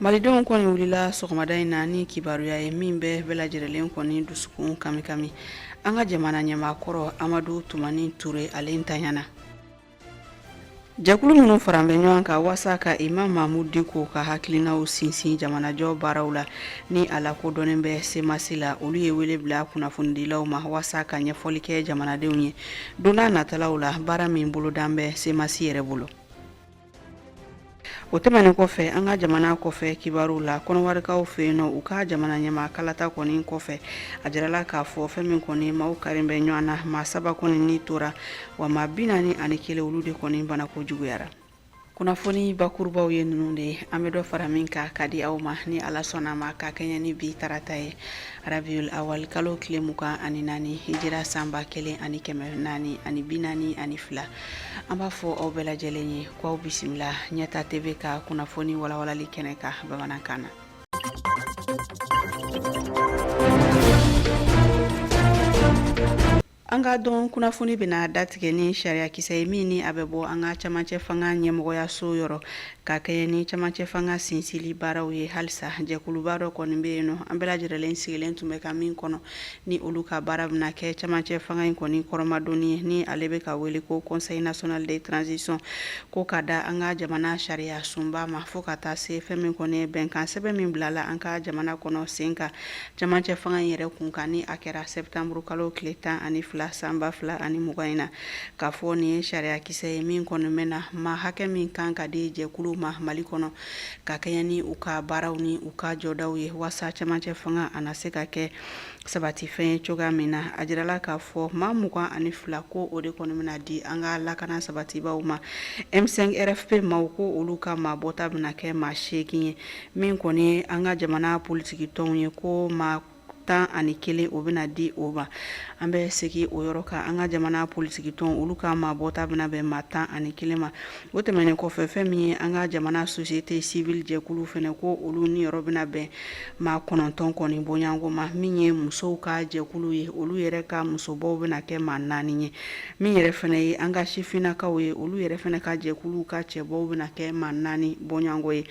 malidenw kɔni wulila sɔgɔmada in na ni kibaruya ye min bɛ bɛɛ lajɛrɛlen kɔni dusukun kami kami an ka jamana ɲɛmaakɔrɔ amadu tumani ture ale ntanya na jɛkulu minnu faran bɛ ɲɔgɔn kan waasa ka imamu mahamudu diko ka hakilinaw sinsin jamanajɔ baaraw la ni a lakodɔnnen bɛ semasi la olu ye wele bila kunnafonidilaw ma waasa ka ɲɛfɔli kɛ jamanadenw ye donna natalaw la baara min bolodan bɛ semasi yɛrɛ bolo o tɛmɛnen kɔfɛ an ka jamana kɔfɛ kibaruw la kɔnɔwarikaw fɛ yen nɔ u ka jamana ɲɛmaa kalata kɔni kɔfɛ a jirala k'a fɔ fɛn min kɔni maaw kari bɛ ɲɔgɔn na maa saba kɔni ni tora wa maa bi naani ani kelen olu de kɔni banako juguyara kunnafoni bakurubaw ye ninnu de ye an bɛ dɔ fara min kan ka di aw ma ni ala sɔnna ma ka kɛɲɛ ni bi tarata ye rabiyu awali kalo tile mugan ani naani hijira sanba kelen ani kɛmɛ naani ani bi naani ani fila an b'a fɔ aw bɛɛ lajɛlen ye ko aw bisimila ɲɛta tv ka kunnafoni walawalali kɛnɛ kan bamanankan na an ka don kunnafoni bɛna datigɛ ni sariyakisɛ ye min ni a bɛ bɔ an ka camancɛ fanga ɲɛmɔgɔyaso yɔrɔ ka kɛɲɛ ni camancɛ fanga sinsili baaraw ye halisa jɛkuluba dɔ kɔni bɛ yen nɔ an bɛɛ lajɛrɛlen sigilen tun bɛ ka min kɔnɔ ni olu ka baara bɛna kɛ camancɛ fanga in kɔni kɔrɔmadonni ye ni ale bɛ ka wele ko conseil national de transition ko ka da an ka jamana sariya sunba ma fo ka taa se fɛn min kɔni ye bɛnkan sɛbɛn min bilala an ka jamana kɔnɔ sen kan camancɛ fanga in yɛrɛ kun kan ni a kɛra sɛtanburu kalo tile tan ani fila sanba fila ani mugan in na K'a fɔ nin ye sariyakisɛ ye min kɔni bɛna maa hakɛ min kan ka di jɛkulu ma mali kɔnɔ ka kɛɲɛ ni u ka baaraw ni u ka jɔdaw ye waasa camancɛ fanga a na se ka kɛ sabatifɛn ye cogoya min na a jirala k'a fɔ maa mugan ani fila ko o de kɔni bɛna di an ka lakana sabatibaw ma m5 rfp maaw ko olu ka maa bɔta bɛna kɛ maa seegin ye min kɔni ye an ka jamana politikitɔnw ye ko maa tan ani kelen o bɛna di o ma an bɛ segin o yɔrɔ kan an ka jamana politikitɔn olu ka maa bɔta bɛna bɛn maa tan ani kelen ma o tɛmɛnen kɔfɛ fɛn min ye an ka jamana société civile jɛkulu fana ko olu niyɔrɔ bɛna bɛn maa kɔnɔntɔn kɔni bɔɲɔgɔnko ma min ye musow ka jɛkulu ye olu yɛrɛ ka musobɔw bɛna kɛ maa naani ye min yɛrɛ fana ye an ka sifinnakaw ye olu yɛrɛ fana ka jɛkulu ka cɛbɔw bɛna kɛ maa naani bɔɲɔgɔnko ye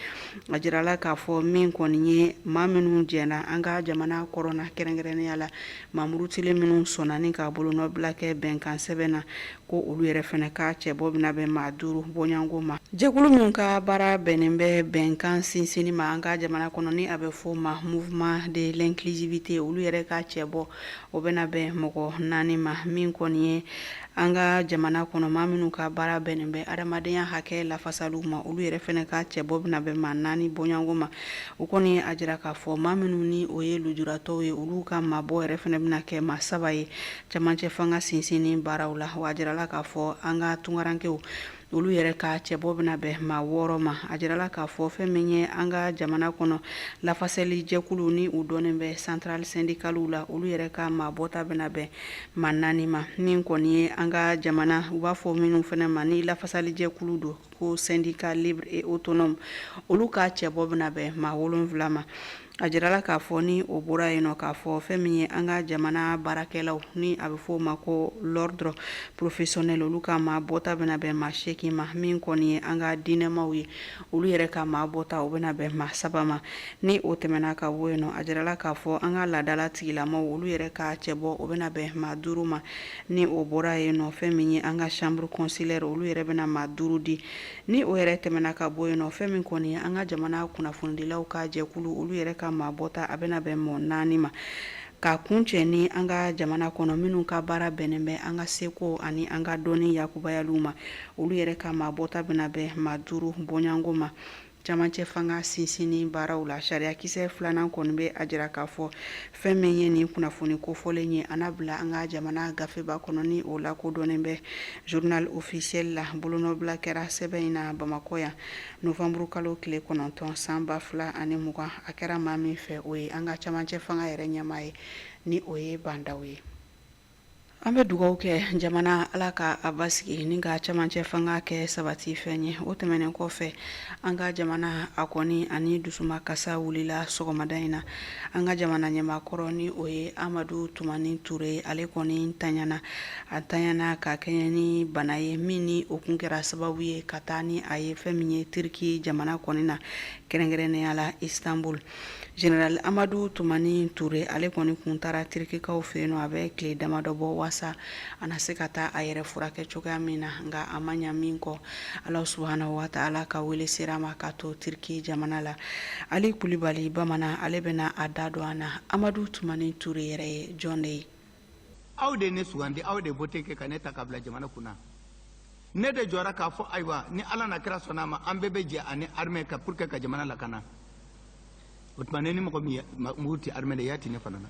a jirala k'a fɔ min kɔni ye maa minnu jɛna an ka jamana kɔrɔn na kɛrɛnkɛrɛnnenya la maa murutilen minnu sɔnnen k'a bolonɔ bila kɛ bɛnkansɛbɛn na ko olu yɛrɛ fana ka cɛbɔ bɛna bɛn maa duuru bɔɲɔgɔnko ma jɛkulu min ka baara bɛnnen bɛ bɛnkan sinsinni ma an ka jamana kɔnɔ ni a bɛ fɔ ma mouvement de l'inclusivité olu yɛrɛ ka cɛbɔ o bɛna bɛn mɔgɔ naani ma min kɔni ye an ka jamana kɔnɔ maa minnu ka baara bɛnnen bɛ adamadenya hakɛ lafasaliw ma olu yɛrɛ fɛnɛ ka cɛbɔ bɛna bɛn maa naani bɔɲɔgɔnko ma o kɔni a jira k'a fɔ maa minnu ni o ye lujuratɔw ye olu ka maabɔ yɛrɛ fɛnɛ bɛna kɛ maa saba ye camancɛ fanga sinsinni baaraw la wa a jirala k'a fɔ an ka tunkarankew olu yɛrɛ ka cɛbɔ bɛna bɛn maa wɔɔrɔ ma a jirala k'a fɔ fɛn min ye an ka jamana kɔnɔ lafasali jɛkulu ni u dɔnnen bɛ central syndicaliw la olu yɛrɛ ka maa bɔta bɛna bɛn maa naani ma min kɔni ye an ka jamana u b'a fɔ minnu fɛnɛ ma ni lafasali jɛkulu don ko syndicat libre et autonome olu ka cɛbɔ bɛna bɛn maa wolonwula ma A jirala k'a fɔ ni o bɔra yen nɔ k'a fɔ fɛn min ye an ka jamana baarakɛlaw ni a bɛ fɔ o ma ko l'ordre professionnel olu ka maa bɔta bɛna bɛn maa seegi ma min kɔni ye an ka diinɛmaw ye olu yɛrɛ ka maa bɔta o bɛna bɛn maa saba ma ni o tɛmɛna ka bɔ yen nɔ a jirala k'a fɔ an ka laadadala tigilamaw olu yɛrɛ ka cɛbɔ o bɛna bɛn maa duuru ma ni o bɔra yen nɔ fɛn min ye an ka chambre consulaire olu yɛrɛ bɛna maa duuru di Ni o yɛrɛ tɛmɛna ka bɔ yen nɔ fɛn min kɔni an ka jamana kunnafonidilaw ka jɛkulu olu yɛrɛ ka maa bɔta a bɛna bɛn mɔgɔ naani ma ka kuncɛ ni an ka jamana kɔnɔ minnu ka baara bɛnnen bɛ an ka seko ani an ka dɔnni yakubayaliw ma olu yɛrɛ ka maa bɔta bɛna bɛn maa duuru bɔɲɔgɔnko ma camancɛ fanga sinsinni baaraw la sariyakisɛ filanan kɔni bɛ a jira k'a fɔ fɛn min ye nin kunnafoni kofɔlen ye a na bila an ka jamana gafeba kɔnɔ ni o lakodɔnnen bɛ journal officiel la bolonɔbila kɛra sɛbɛn in na bamakɔ yan novanburukalo tile kɔnɔntɔn san ba fila ani mugan a kɛra maa min fɛ o ye an ka camancɛ fanga yɛrɛ ɲɛmaa ye ni o ye ba ndaw ye An bɛ dugaw kɛ jamana ala ka a basigi ni ka camancɛ fanga kɛ sabati fɛn ye o tɛmɛnen kɔfɛ an ka jamana a kɔni ani dusuma kasa wulila sɔgɔmada in na an ka jamana ɲɛmaa kɔrɔ ni o ye amadu tumani ture ale kɔni tanyana a tanyana ka kɛɲɛ ni bana ye min ni o kun kɛra sababu ye ka taa ni a ye fɛn min ye tiriki jamana kɔni na kɛrɛnkɛrɛnnenya la istanbul Jeneral amadu tumani ture ale kɔni kun taara tirikikaw fɛ yen nɔ a bɛ tile damadɔ bɔ waasa a na se ka taa a yɛrɛ furakɛ cogoya min na nka a ma ɲa min kɔ ala subhanahu wa ta'ala ka wele sera a ma ka to tiriki jamana la ali kulubali bamanan ale bɛna a da don an na amadu tumani ture yɛrɛ ye jɔn de ye aw de ye ne sugandi aw de ye vote kɛ ka ne ta ka bila jamana kun na ne de jɔra k'a fɔ ayiwa ni ala n'a kira sɔnna a ma an bɛɛ bɛ jɛ ani armɛ ka pour que ka jamana lakana o tuma ne ni mɔgɔ min mugu ti armɛ la i y'a ti ne fana na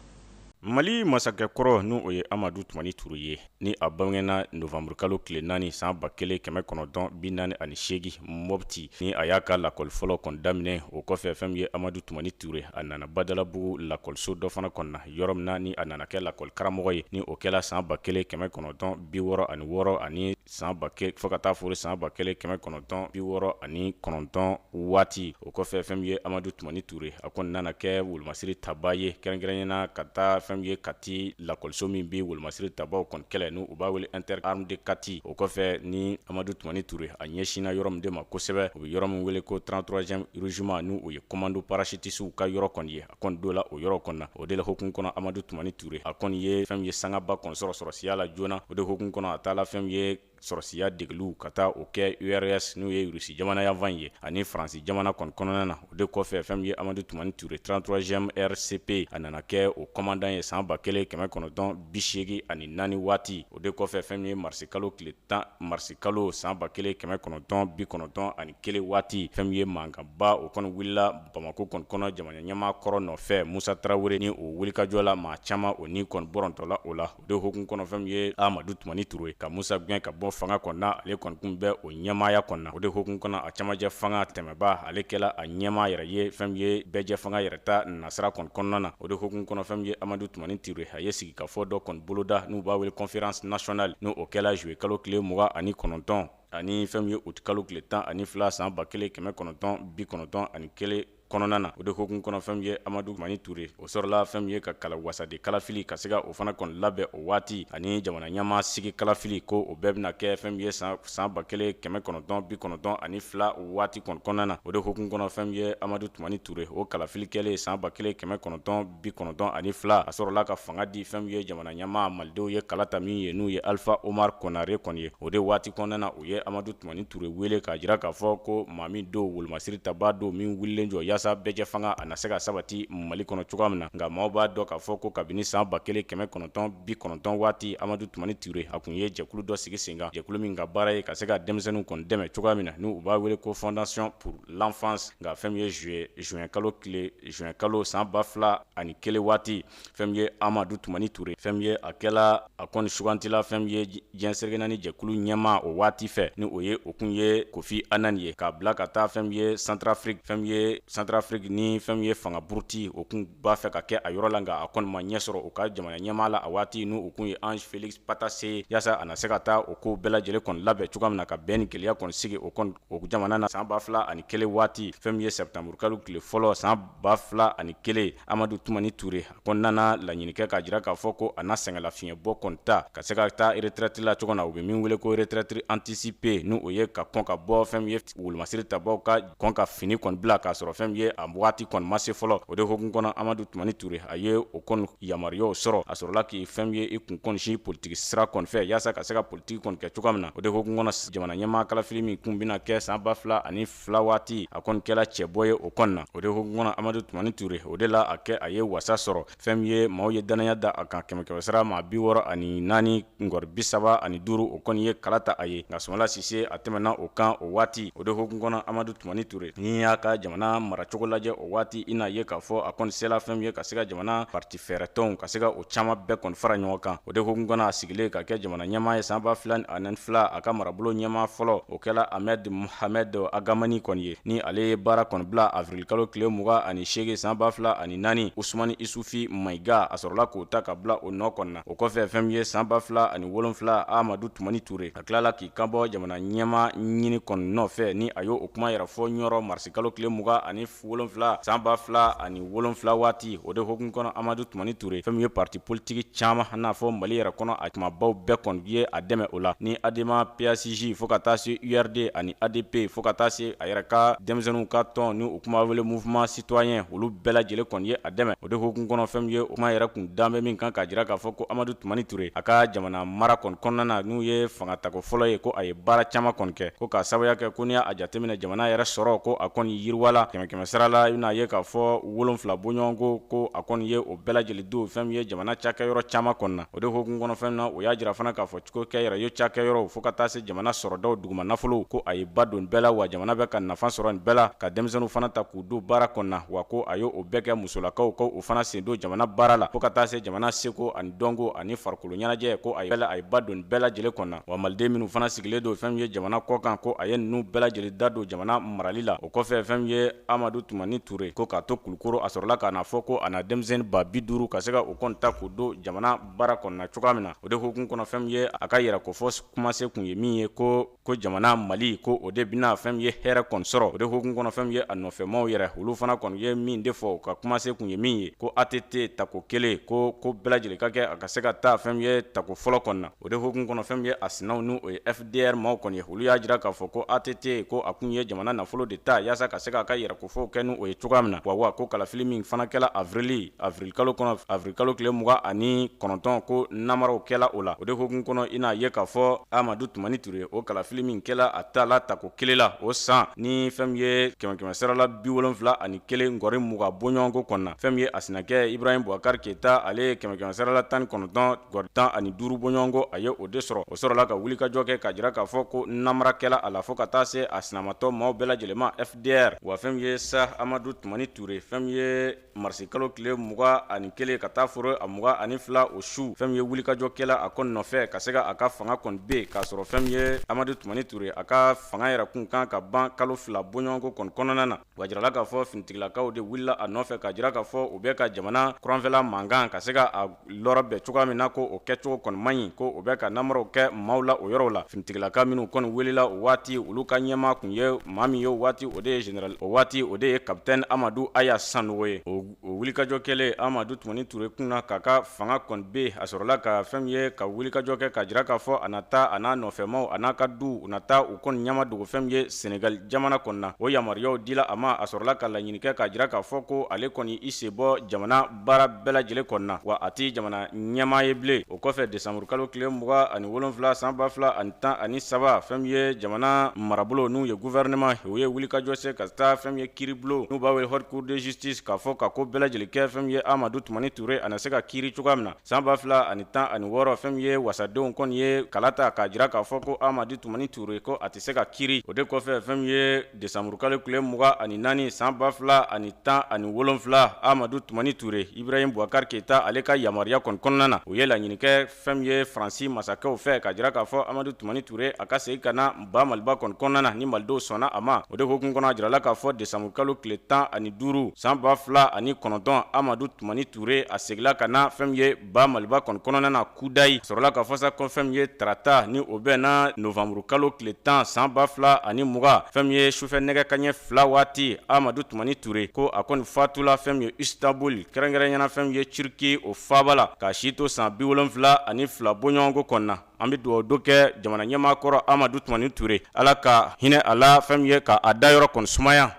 mali masakɛ kɔrɔ ni o ye amadu tumani ture ye ni a bangena novanburukalo tile naani san ba kelen kɛmɛ kɔnɔntɔn bi naani ani seegi mɔbiti ni a y'a ka lakɔli fɔlɔ kɔni daminɛ o kɔfɛ fɛn min ye amadu tumani ture a nana badalabugu lakɔliso dɔ fana kɔnɔna yɔrɔ min na ni a nana kɛ lakɔli karamɔgɔ ye ni o kɛla san ba kelen kɛmɛ kɔnɔntɔn bi wɔɔrɔ ani wɔɔrɔ ani san ba fo ka taa fo san ba kelen kɛmɛ kɔnɔntɔn bi wɔɔrɔ ani kɔnɔntɔn waati o kɔfɛ fɛn ye amadu tumani ture a kɔni nana kɛ wolomasiri taba ye kɛrɛnkɛrɛnnenya na ka taa fɛn ye kati lakɔliso min bɛ wolomasiri tabaw kɔni kɛlɛ n u b'a wele inter armes de kati o kɔfɛ ni amadu tumani ture a ɲɛsinna yɔrɔ min de ma kosɛbɛ u bɛ yɔrɔ min wele ko 33e régiment n' u ye komando parasitisiw ka yɔrɔ kɔni ye a kɔni don la o yɔrɔ kɔnɔ na o de la hukumu kɔnɔ amadu tumani ture a kɔni ye fɛn ye sangaba kɔni sɔrɔ sɔrɔsiya la joona o de hukumu kɔnɔ a taala fɛn ye sɔrɔsiya degeliw ka taa o kɛ urs n'u ye rusi jamana yanfan ye ani faransi jamana kɔni kɔnɔna na o de kɔfɛ fɛn ye amadu tumani ture 33e rcp a nana kɛ o komandan ye san ba kelen kɛmɛ kɔnɔntɔn bi segin ani naani waati o de kɔfɛ fɛn ye marisikalo tile tan marisikalo san ba kelen kɛmɛ kɔnɔntɔn bi kɔnɔntɔn ani kelen waati fɛn ye mankanba o kɔni wulila bamakɔ kɔni kɔnɔ jamana ɲɛmaa kɔrɔ nɔfɛ musa tarawele ni o wulikajɔ la maa caman o ni kɔni bɔrɔntɔla o la o de hukumu kɔnɔ fɛn ye amadu tumani ture ka musa gɛn ka bɔ fanga kɔnɔna ale kɔni kun bɛ o ɲɛmaaya kɔnɔna o de hukumu kɔnɔ a camancɛ fanga tɛmɛba ale kɛla a ɲɛmaa yɛrɛ ye fɛn ye bɛɛjɛ fanga yɛrɛ ta nasira kɔni kɔnɔna na o de hukumu kɔnɔ fɛn ye amadu tumani ture a ye sigikafɔ dɔ kɔni boloda n'u b'a wele conférence nationale n' o kɛla zuye kalo tile mugan ani kɔnɔntɔn ani fɛn ye uti kalo tile tan ani fila san ba kelen kɛmɛ kɔnɔntɔn bi kɔnɔntɔn ani kelen kɔnɔna na o de hukumu kɔnɔ fɛn ye amadu tumani ture o sɔrɔla fɛn ye ka kala wasaden kalafili ka se ka o fana kɔni labɛn o waati ani jamana ɲɛmaa sigi kalafili ko o bɛɛ bɛna kɛ fɛn ye san ba kelen kɛmɛ kɔnɔntɔn bi kɔnɔntɔn ani fila waati kɔni kɔnɔna na o de hukumu kɔnɔ fɛn ye amadu tumani ture o kalafili kɛlen san ba kelen kɛmɛ kɔnɔntɔn bi kɔnɔntɔn ani fila a sɔrɔla ka fanga di fɛn ye jamana ɲɛmaa malidenw ye kala ta min ye n'u ye alifa omari konare kɔni ye o de waati kɔnɔna na u ye amadu tumani ture wele k'a jira k'a fɔ ko maa min don wolomasiri tabaa don min wulilen jɔ yaasa bɛɛjɛ fanga a na se ka sabati mali kɔnɔ cogoya min na nka maaw b'a dɔn k'a fɔ ko kabini san ba kelen kɛmɛ kɔnɔntɔn bi kɔnɔntɔn waati amadu tumani ture a kun ye jɛkulu dɔ sigi sen kan jɛkulu min ka baara ye ka se ka denmisɛnninw kɔni dɛmɛ cogoya min na n u b'a wele ko fondation pour l'enfance nka fɛn ye zuye zuwɛn kalo tile zuwɛn kalo san ba fila ani kelen waati fɛn ye amadu tumani ture fɛn ye a kɛla a kɔni sugantila fɛn ye diɲɛ seleke naani jɛkulu ɲɛmaa o waati fɛ ni o ye o kun ye kofi annan ye k'a bila ka taa fɛn ye centrafrique fɛn ye centrafrique ni fɛn ye fanga buruti o kun b'a fɛ ka kɛ a yɔrɔ la nka a kɔni ma ɲɛ sɔrɔ u ka jamana ɲɛmaa la a waati n' u kun ye ange félix patassé ye yaasa a na se ka taa o ko bɛɛ lajɛlen kɔni labɛn cogoya min na ka bɛn ni kelenya kɔni sigi o o jamana na san ba fila ani kelen waati fɛn min ye sɛtanburukalo tile fɔlɔ san ba fila ani kelen amadu tumani ture a kɔni nana laɲini kɛ k'a jira k'a fɔ ko a na sɛgɛnlafiɲɛ bɔ kɔni ta ka se ka taa retraite la cogo na u bɛ min wele ko retraite anticipée n'o ye ka kɔn ka bɔ fɛn min ye wolomasiri tabaw ka kɔn ka fini kɔni bila k'a sɔrɔ fɛn min ye a waati kɔni ma se fɔlɔ o de hokumu kɔnɔ amadu tumani ture a ye o kɔni yamaruyaw sɔrɔ a sɔrɔla k'i fɛn min ye i kun kɔni sin politiki sira kɔni fɛ yaasa ka se ka tigi kɔni kɛ cogoya min na o de hokumu kɔnɔ jamana ɲɛmaa kalafili min kun bɛna kɛ san ba fila ani fila waati a kɔni kɛla cɛbɔ ye o kɔni na o de hokumu kɔnɔ amadu tumani ture o de la a kɛ a ye wasa sɔrɔ fɛn min ye maaw ye dannaya da a kan kɛmɛ kɛmɛsira maa bi wɔɔrɔ ani naani ngɔri bi saba ani duuru o kɔni ye kala ta a ye nka sumayila sise a tɛmɛna o kan o waati o de hokumu kɔnɔ amadu tumani ture n'i y'a ka jamana maracogo lajɛ o waati i n'a ye k'a fɔ a kɔni sela fɛn min ye ka se ka jamana parti fɛɛrɛtɔnw ka se ka o caman bɛɛ kɔni fara ɲɔgɔn kan o de hukumu kɔnɔ a sigilen ka kɛ jamana ɲɛmaa ye san ba fila ani fila a ka marabolo ɲɛmaa fɔlɔ o kɛla ahmed mohamed ag hamani kɔni ye ni ale ye baara kɔni bila avirilkalo tile mugan ani seegin san ba fila ani naani usumani isufi mayiga a sɔrɔla k'o ta ka bila o nɔ kɔni na o kɔfɛ fɛn min ye san ba fila ani wolonfila amadu tumani ture a tilala k'i kanbɔ jamana ɲɛmaa ɲini kɔni nɔfɛ ni a y'o kuma yɛrɛ fɔ ɲɔrɔ marisikalo tile mugan ani wolonfila san ba fila ani wolonfila waati o de hokumu kɔnɔ amadu tumani ture fɛn min ye parti politiki caaman n'a fɔ mali yɛrɛ kɔnɔ a kumabaw bɛɛ kɔni ye a dɛmɛ o la ni adema pasj fo ka taa se urd ani adp fo ka taa se a yɛrɛ ka denmisɛnninw ka tɔn ni u kun b'a wele mouvement citoyen olu bɛɛ lajɛlen kɔni ye a dɛmɛ o de hokumu kɔnɔ fɛn min ye o kuma yɛrɛ kun dalen bɛ min kan k'a jira k'a fɔ ko amadu tumani ture a ka jamana mara kɔni kɔnɔna na n'o ye fanga tako fɔlɔ ye ko a ye baara caman kɔni kɛ ko k'a sababuya kɛ ko n'i y'a jateminɛ jamana yɛrɛ sɔrɔ ko a kɔni yiriwala kɛmɛkɛmɛ sira la i bɛna a ye k'a fɔ wolonfila bɔɲɔgɔnko ko a kɔni ye o bɛɛ lajɛlen don fɛn min ye jamana cakɛyɔrɔ caman kɔnɔ na o de hokumu kɔnɔ fɛn min na o y'a jira fana k'a fɔ cogo kɛ yɛrɛ ye cakɛyɔrɔw fo ka taa se jamana sɔrɔdaw duguma nafolo ko a ye ba don bɛɛ la wa jamana bɛ ka nafa sɔrɔ nin bɛɛ la ka denmisɛnninw fana ta k'u don baara kɔni na wa ko a ye o bɛɛ kɛ musolakaw ko u fana sen don jamana baara la fo ka taa se jamana seko ani dɔnko ani farikolo ɲɛnajɛ ko a a ye ba don bɛɛ lajɛlen kɔnɔ wa maliden minnu fana sigilen don fɛn min ye jamana kɔkan ko a ye ninnu bɛɛ lajɛlen da don jamana marali la o kɔfɛ fɛn min ye amadu tumani ture ko k'a to kulukoro a sɔrɔla ka n'a fɔ ko a na denmisɛnnin ba bi duuru ka se ka o kɔni ta k'o don jamana baara kɔnɔna cogoya min na o de hokumu kɔnɔ fɛn min ye a ka yɛrɛ ko fɔ kumasen kun ye min ye ko jamana mali ko o de bɛna fɛn min ye hɛrɛ kɔni sɔrɔ o de hokumu kɔnɔ fɛn min ye a nɔfɛmaw yɛrɛ olu fana kɔni ye min de fɔ ka kumasen kun ye min ye ko att tako kelen ko ko bɛɛ lajɛlen ka kɛ a ka se ka taa fɛn min ye tako fɔlɔ kɔnɔna O de hukumu kɔnɔ fɛn min ye a sinaw n' o ye fdr maaw kɔni ye olu y'a jira k'a fɔ ko ATT ko a kun ye jamana nafolo de ta yaasa ka se k'a ka yɛrɛkofɔw kɛ n'o ye cogoya min na, wa wa ko kalafili min fana kɛla avril avril kalo tile mugan ani kɔnɔntɔn ko namaraw kɛla o la. O de hukumu kɔnɔ, i n'a ye k'a fɔ Amadu Tumani Ture, o kalafili min kɛla a tala tako kelen la o san, ni fɛn min ye kɛmɛ kɛmɛ sara la bi wolonwula ani kelen nkɔri mugan bɔɲɔgɔnko kɔnɔna, fɛn min ye a sinakɛ Ibrahim Boubacar Keita, ale ye kɛmɛ kɛmɛ sara la tan ni kɔnɔntɔn Nkɔri tan ani duuru bɔɲɔgɔnko a ye o de sɔrɔ o sɔrɔla ka wulikajɔ kɛ k'a jira k'a fɔ ko namara kɛla a la fo ka taa se a sinamatɔ maaw bɛɛ lajɛlen ma fdr wa fɛn min ye sa amadu tumani ture fɛn min ye marisi kalo tile mugan ani kelen ka taa foro a mugan ani fila o su fɛn min ye wulikajɔ kɛla a kɔni nɔfɛ ka se ka a ka fanga kɔni bin k'a sɔrɔ fɛn min ye amadu tumani ture a ka fanga yɛrɛ kun kan ka ban kalo fila bɔɲɔgɔnko kɔni kɔnɔna na wa jirala k'a fɔ finitigilakaw de wulila a nɔfɛ k'a jira k'a fɔ u bɛ ka jamana kɔrɔnfɛla mankan ka se ka a lɔrɔ bɛn cogoya min na ko o kɛcogo kɔni man ɲi ko o bɛ ka namaraw kɛ maaw la o yɔrɔw la finitigilaka minnu kɔni wulila o waati olu ka ɲɛmaa kun ye maa min ye o waati o de ye general o waati o de ye capitaine amadu aya sanogo ye o wulikajɔ kɛlen amadu tumani ture kunna k'a ka fanga kɔni bin a sɔrɔla ka fɛn min ye ka wulikajɔ kɛ k'a jira k'a fɔ a na taa a n'a nɔfɛmaw a n'a ka du u na taa u kɔni ɲɛmadogo fɛn min ye senegali jamana kɔnɔna o yamaruyaw dila a ma a sɔrɔla ka laɲini kɛ k'a jira k'a fɔ ko ale kɔni i sen bɔ jamana baara bɛɛ lajɛlen kɔnɔna wa a tɛ jamana ɲɛmaa ye bilen o kɔfɛ desanburu kalo tile mugan ani wolonfila san ba fila ani tan ani saba fɛn min ye jamana marabolo n'o ye guvɛrɛnɛma o ye wulikajɔ se ka taa fɛn min ye kiiribulon n'u b'a wele haute cour de justice k'a fɔ ka ko bɛɛ lajɛlen kɛ fɛn min ye amadu tumani ture a na se ka kiiri cogoya min na san ba fila ani tan ani wɔɔrɔ fɛn min ye wasadenw kɔni ye kala ta k'a jira k'a fɔ ko amadu tumani ture ko a tɛ se ka kiiri o de kɔfɛ fɛn min ye Desanburukalo tile mugan ani naani san ba fila ani tan ani wolonfila amadu tumani ture ibrahim bubakari keyita ale ka yamaruya kɔni kɔnɔna na u ye laɲini kɛ fɛn min ye faransi masakɛw fɛ k'a jira k'a fɔ amadu tumani ture a ka segin ka na ba maliba kɔni kɔnɔna na ni malidenw sɔnna a ma o de hukumu kɔnɔ a jirala k'a fɔ desanburukalo tile tan ani duuru san ba fila ani kɔnɔntɔn amadu tumani ture a segila ka na fɛn min ye ba maliba kɔni kɔnɔna na kudayi sɔrɔla k'a fɔ sa ko fɛn min ye tarata ni o bɛnna novanburu kalo tile tan san ba fila ani mugan fɛn min ye sufɛ nɛgɛ kanɲɛ fila waati amadu tumani ture ko a kɔni fatula fɛn min ye istanbuli kɛrɛnkɛrɛnya na fɛn min ye turki o faaba la k'a si to san bi wolonfila ani fila bɔɲɔgɔnko kɔnɔna an bɛ dugawudon kɛ jamana ɲɛmaa kɔrɔ amadu tumani ture ala ka hinɛ a la fɛn min ye k'a dayɔrɔ kɔni sumaya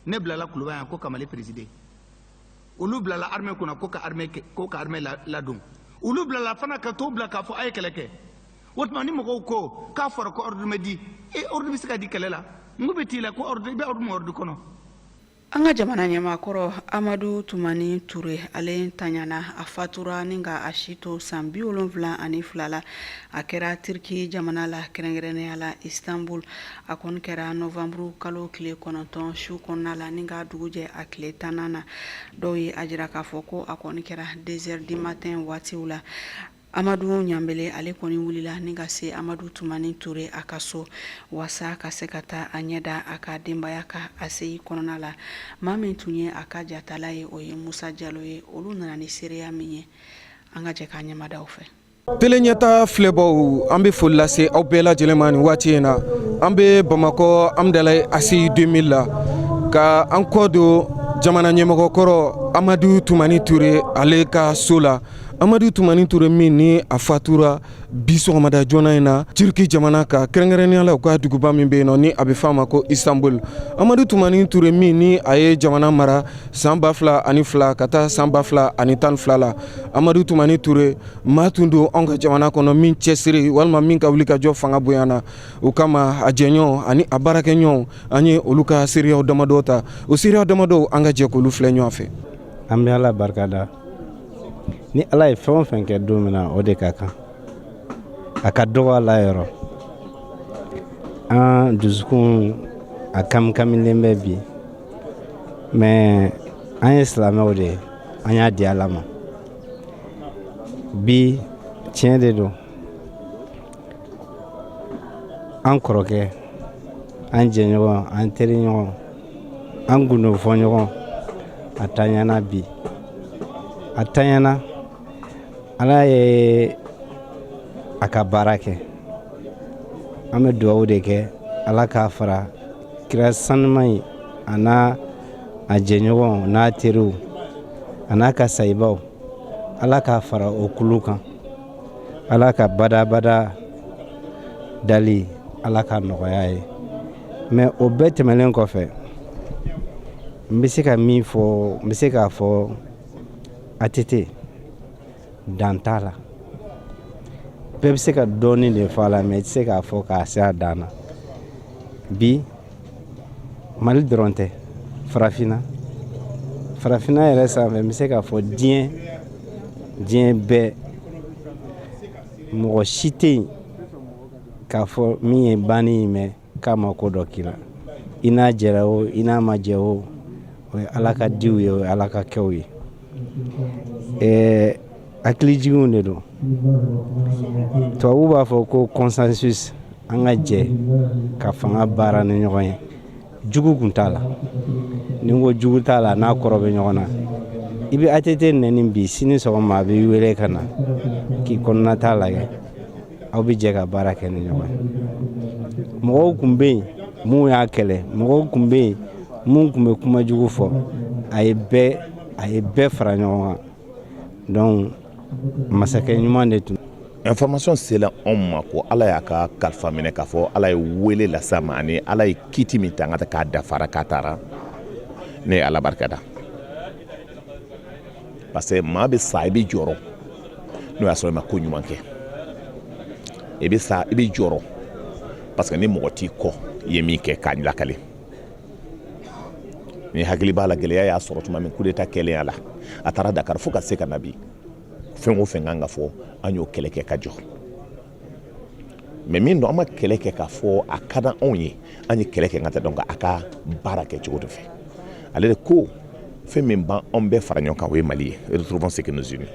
ne bilala kuluba yan ko ka mali présider olu bilala armée kunna ko ka armée ladon olu bilala fana ka to bila k'a fɔ a ye kɛlɛ kɛ o tuma ni mɔgɔw ko k'a fɔra ko ordre ma di e ordre bɛ se ka di kɛlɛ la n ko bɛ t'i la ko ordre i bɛ ordre ma ordre kɔnɔ an ka jamana ɲɛmaakɔrɔ amadu tumani ture ale tanyana a fatura ni ka a si to san bi wolonfila ani fila la a kɛra turki jamana la kɛrɛnkɛrɛnnenya la istanbul a kɔni kɛra nowanburu kalo tile kɔnɔntɔn su kɔnɔna la ni ka dugu jɛ a tile tan na dɔw ye a jira k'a fɔ ko a kɔni kɛra deux heures du matin waatiw la amadu ɲanbele ale kɔni wulila ni ka se amadu tumani ture a ka so wasa ka se ka taa a ɲɛda a ka denbaya kan aseyi kɔnɔna la maa min tun ye a ka jatala ye o ye musa jalo ye olu nana ni seereya min ye an ka jɛ k'a ɲɛmadaw fɛ Tele ɲɛta filɛbaw an bɛ foli lase aw bɛɛ lajɛlen ma nin waati in na an bɛ bamakɔ hamdalaye aseyi deux mille la ka an kɔ don jamana ɲɛmɔgɔkɔrɔ amadu tumani ture ale ka so la amadu tumani ture min ni a fatura bi sɔgɔmada joona in na turki jamana ka kɛrɛnkɛrɛnnenya la u ka duguba min bɛ yen nɔ ni a bɛ f'a ma ko istanbul amadu tumani ture min ni a ye jamana mara san ba fila ani fila ka taa san ba fila ani tan fila la amadu tumani ture maa tun don anw ka jamana kɔnɔ min cɛsiri walima min ka wulikajɔ fanga bonyana o kama a jɛɲɔgɔn ani a baarakɛɲɔgɔn an ye olu ka seereyaw damadɔ ta o seereya damadɔ an ka jɛ k'olu filɛ ɲɔgɔn fɛ an bɛ ala barika da ni ala ye fɛn o fɛn kɛ don min na o de ka kan a ka dɔgɔ ala yɔrɔ an dusukun a kamikamilen bɛ bi mais an ye silamɛw de ye an y'a di ala ma bi tiɲɛ de don an kɔrɔkɛ an jɛɲɔgɔn an teriɲɔgɔn an gundofɔɲɔgɔn a taɲana bi a taɲana ala ye a ka baara kɛ an bɛ dugawu de kɛ ala k'a fara kira saniman in a n'a jɛɲɔgɔn n'a teriw a n'a ka sayibaw ala k'a fara o kulu kan ala ka badabada dali ala ka nɔgɔya ye mais o bɛɛ tɛmɛnen kɔfɛ n bɛ se ka min fɔ n bɛ se k'a fɔ atete Dan t'a la bɛɛ bɛ se ka dɔɔnin de fɔ a la mais i tɛ se k'a fɔ k'a se a dan na bi mali dɔrɔn tɛ farafinna farafinna yɛrɛ sanfɛ n bɛ se k'a fɔ diɲɛ diɲɛ bɛɛ mɔgɔ si tɛ yen k'a fɔ min ye banni ye mais k'a ma ko dɔ k'i la i n'a jɛra o i n'a ma jɛ o o ye ala ka diw ye o ye ala ka kɛw ye ɛɛ hakilijiginw de don tubabu b'a fɔ ko consensus an ka jɛ ka fanga baara ni ɲɔgɔn ye jugu kun t'a la ni ko jugu t'a la n'a kɔrɔ bɛ ɲɔgɔn na i bɛ ATT nɛni bi sini sɔgɔma a b'i wele ka na k'i kɔnɔnata lajɛ aw bɛ jɛ ka baara kɛ ni ɲɔgɔn ye mɔgɔw kun bɛ yen minnu y'a kɛlɛ mɔgɔw kun bɛ yen minnu kun bɛ kuma jugu fɔ a ye bɛɛ fara ɲɔgɔn kan donc masakɛ ɲuman de tun information sela anw ma ko ala y'a ka kalifa minɛ k'a fɔ ala ye wele las'a ma ani ala ye kiti min ta k'a dafara k'a taara ne ye ala barikada parce que maa bɛ sa i bɛ jɔrɔ n'o y'a sɔrɔ i ma ko ɲuman kɛ i bɛ sa i bɛ jɔrɔ parce que ni mɔgɔ t'i kɔ i ye min kɛ k'a lakale ne hakili b'a la gɛlɛya y'a sɔrɔ tuma min kudeta kɛlen a la a taara dakar fo ka se ka na bi fɛn o fɛn k'an k'a fɔ an y'o kɛlɛ kɛ ka jɔ mais min don an ma kɛlɛ kɛ k'a fɔ a ka di anw ye an ye kɛlɛ kɛ ka tɛ donc a ka baara kɛ cogo de fɛ ale de ko fɛn min b'anw bɛɛ fara ɲɔgɔn kan o ye mali ye retrouvons ce que nous unit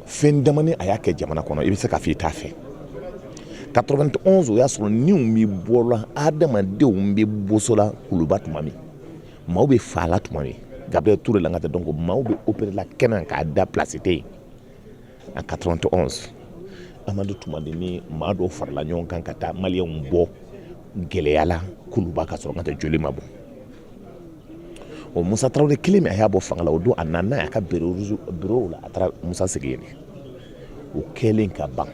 fɛn damani a y'a kɛ jamana kɔnɔ i bɛ se k'a fɔ i t'a fɛ 91 o y'a sɔrɔ niw bɛ bɔla adamadenw bɛ bosola kuluba tuma min maaw bɛ faala tuma min gabriel ture la ka tɛ donc maaw bɛ opérer la kɛnɛ k'a da place tɛ yen en 91 amadu tumani ni maa dɔw farala ɲɔgɔn kan ka taa maliyɛnw bɔ gɛlɛya la kuluba ka sɔrɔ ka tɛ joli ma bɔ o musa tarawele kelen min a y'a bɔ fanga la o don a nana a ka bureau la a taara musa sigi yen o kɛlen ka ban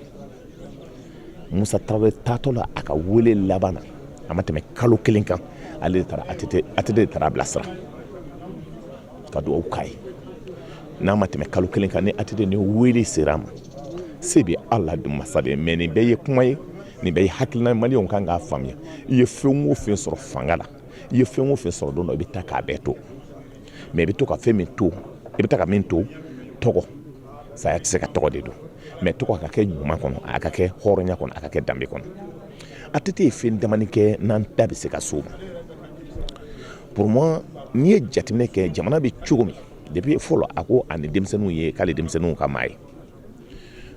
musa tarawele taatɔ la a ka wele laban na a ma tɛmɛ kalo kelen kan ale de taara ATT de taara a bilasira ka dugawu k'a ye n'a ma tɛmɛ kalo kelen kan ni ATT ni wele sera a ma se bɛ ala de masa de mais nin bɛɛ ye kuma ye nin bɛɛ ye hakilina maliyɛnw kan k'a faamuya i ye fɛn o fɛn sɔrɔ fanga la i ye fɛn o fɛn sɔrɔ don dɔ i bɛ taa k'a bɛɛ to mais i bɛ to ka fɛn min to i bɛ taa ka min to tɔgɔ saya tɛ se ka tɔgɔ de dun mais tɔgɔ a ka kɛ ɲuman kɔnɔ a ka kɛ hɔrɔnya kɔnɔ a ka kɛ danbe kɔnɔ ATT ye fɛn damani kɛ n'an da bɛ se ka s'o ma Pour moi n'i ye jateminɛ kɛ jamana bɛ cogo min depuis fɔlɔ a ko ani denmisɛnninw ye k'ale denmisɛnninw ka maa ye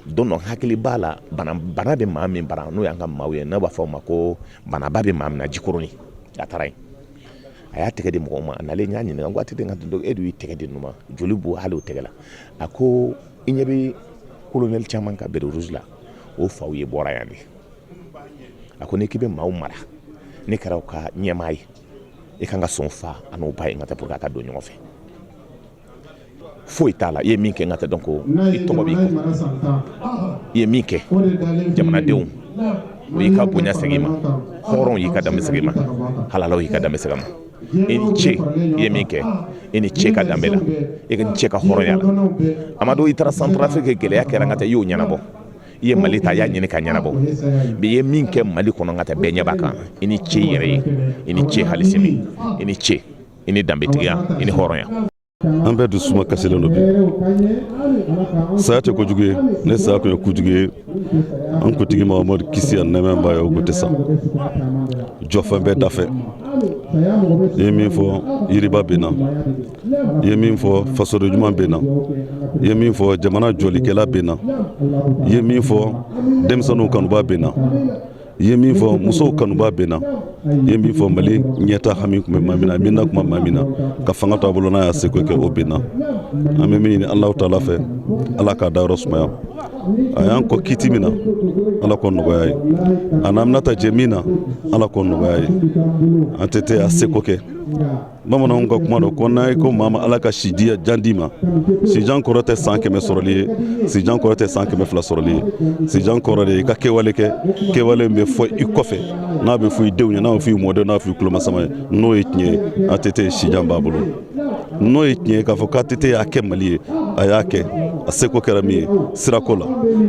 don dɔ hakili b'a la bana bana bɛ maa min bara n'o y'an ka maaw ye n'a b'a fɔ o ma ko banaba bɛ maa min na jikɔrɔni a taara yen a y'a tɛgɛ di mɔgɔw ma a nalen n y'a ɲininka n ko ATT e dun y'i tɛgɛ di ninnu ma joli b'o hali o tɛgɛ la a ko i ɲɛ bɛ colonel caman ka béret rouge la o faw ye bɔra yan de a ko n'i k'i bɛ maaw mara ne kɛra u ka ɲɛmaa ye i kan ka sɔn fa ani ba ye ATT pour que a ka don ɲɔgɔn fɛ foyi t'a la i ye min kɛ ATT donc i tɔgɔ b'i kɔ i ye min kɛ jamanadenw u y'i ka bonya segin ma hɔrɔnw y'i ka danbe segin ma halalaw y'i ka danbe segin ma i ni ce i ye min kɛ i ni ce ka danbe la i ni ce ka hɔrɔnya la amadu i taara Centrafrique gɛlɛya kɛra ATT y'o ɲɛnabɔ i ye mali ta y'a ɲini ka ɲɛnabɔ i ye min kɛ mali kɔnɔ ATT bɛɛ ɲɛ b'a kan i ni ce i yɛrɛ ye i ni ce hali sini i ni ce i ni danbetigiya i ni hɔrɔnya an bɛɛ dusuma kasilen don bi saya tɛ kojugu ye ni saya tun ye kojugu ye an kuntigi mahamadu kisi ani nɛɛma b'a ye o tun tɛ sa jɔfɛn bɛɛ dafɛn i ye min fɔ yiriba binna i ye min fɔ fasoden ɲuman binna i ye min fɔ jamana jɔlikɛla binna i ye min fɔ denmisɛnninw kanuba binna i ye min fɔ musow kanuba binna i ye min fɔ mali ɲɛta hami tun bɛ maa min na min na kuma maa min na ka fanga to a bolo n'a y'a seko kɛ o binna an bɛ min ɲini Alahu taala fɛ ala k'a dayɔrɔ sumaya a y'an kɔn kiti min na ala k'o nɔgɔya a ye an n'a bɛna taa jɛ min na ala k'o nɔgɔya a ye ATT y'a seko kɛ bamananw ka kuma dɔ ko n'a ye ko maa ma ala ka sijan d'i ma sijan kɔrɔ tɛ san kɛmɛ sɔrɔli ye sijan kɔrɔ tɛ san kɛmɛ fila sɔrɔli ye sijan kɔrɔ de ye i ka kɛwale kɛ kɛwale bɛ fɔ i kɔfɛ n'a bɛ fɔ i denw ye n'a bɛ fɔ i mɔdenw n'a bɛ fɔ i tulomasama ye n'o ye tiɲɛ ye ATT sijan b'a bolo n'o ye tiɲɛ ye k'a fɔ ko ATT y'a kɛ mali ye a y'a kɛ a seko kɛra min ye sirako la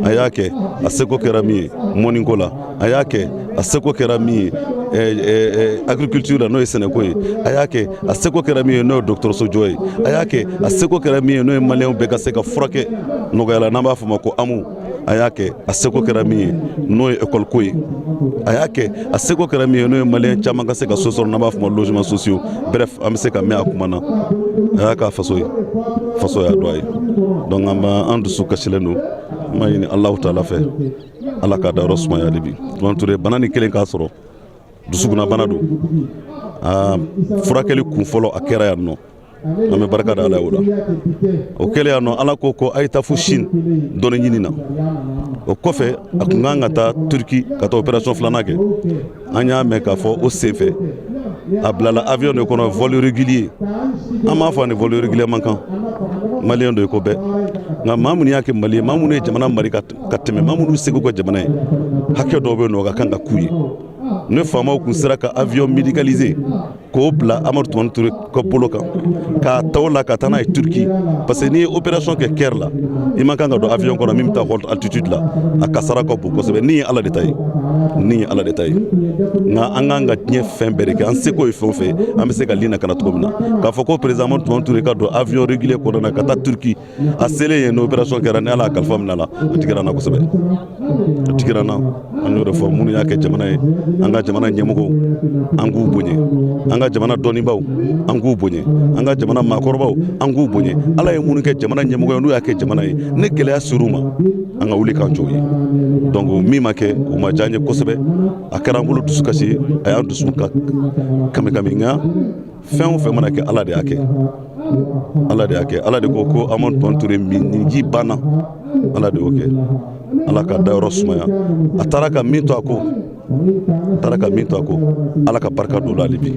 a y'a kɛ a seko kɛra min ye mɔniko la a y'a kɛ a seko kɛra min ye agriculture la n'o ye sɛnɛko ye a y'a kɛ a seko kɛra min ye n'o ye dɔgɔtɔrɔso jɔ ye a y'a kɛ a seko kɛra min ye n'o ye maliyɛnw bɛɛ ka se ka furakɛ nɔgɔya la n'an b'a fɔ ma ko AMO a y'a kɛ a seko kɛra min ye n'o ye école ko ye a y'a kɛ a seko kɛra min ye n'o ye maliyɛn caman ka se ka so sɔrɔ n'an b'a fɔ ma logements sociaux bref an bɛ se ka mɛn a kuma na a y'a k'a faso ye faso y'a dɔn a ye donc an b'an an dusu kasilen don an b'a ɲini Alahu taala fɛ ala k'a dayɔrɔ sumaya hali bi tumani ture bana ni kɛlen k'a sɔrɔ dusukunna bana don a furakɛli kun fɔlɔ a kɛra yan nɔ an bɛ barika da ala ye o la o kɛlen yan nɔ ala ko ko a ye taa fo sini dɔnni ɲini na o kɔfɛ a tun kan ka taa turki ka taa opération filanan kɛ an y'a mɛn k'a fɔ o senfɛ a bilala avion de kɔnɔ vol régulier an m'a fɔ a ni vol régulier man kan maliyɛn don i ko bɛɛ nka maa minnu y'a kɛ mali ye maa minnu ye jamana mara ka ka tɛmɛ maa minnu sɛgɛnna jamana ye hakɛ dɔw bɛ yen nɔ o ka kan ka k'u ye ne faamaw tun sera ka avion médicalisé k'o bila amadu tumani ture ka bolo kan k'a ta o la ka taa n'a ye turki parce que n'i ye opération kɛ cœur la i man kan ka don avion kɔnɔ min bɛ taa haute altitude la a kasara ka bon kosɛbɛ ni ye ala de ta ye ni ye ala de ta ye nka an k'an ka diɲɛ fɛn bɛɛ de kɛ an seko ye fɛn o fɛn an bɛ se k'a ni lakana cogo min na k'a fɔ ko président amadu tumani ture ka don avion régulier kɔnɔ na ka taa turki a selen yen n'opération kɛra ni ala y'a kalifa minɛ a la a digira n na kosɛbɛ a digira n na an y'o de fɔ minnu y'a kɛ jamana ye an ka jamana ɲɛmɔgɔw an k'u bonya an ka jamana dɔnnibaaw an k'u bonya an ka jamana maakɔrɔbaw an k'u bonya ala ye minnu kɛ jamana ɲɛmɔgɔ ye n'u y'a kɛ jamana ye ni gɛlɛya ser'u ma an ka wuli k'an jɔ u ye donc min ma kɛ o ma diya n ye kosɛbɛ a kɛra an bolo dusukasi ye a y'an dusu ka kami kami nka fɛn o fɛn mana kɛ ala de y'a kɛ ala de y'a kɛ ala de ko ko amadu tumani ture minji banna ala de y'o kɛ ala k'a dayɔrɔ sumaya a taara ka min to a kɔ a taara ka min to a kɔ ala ka barika don o la hali bi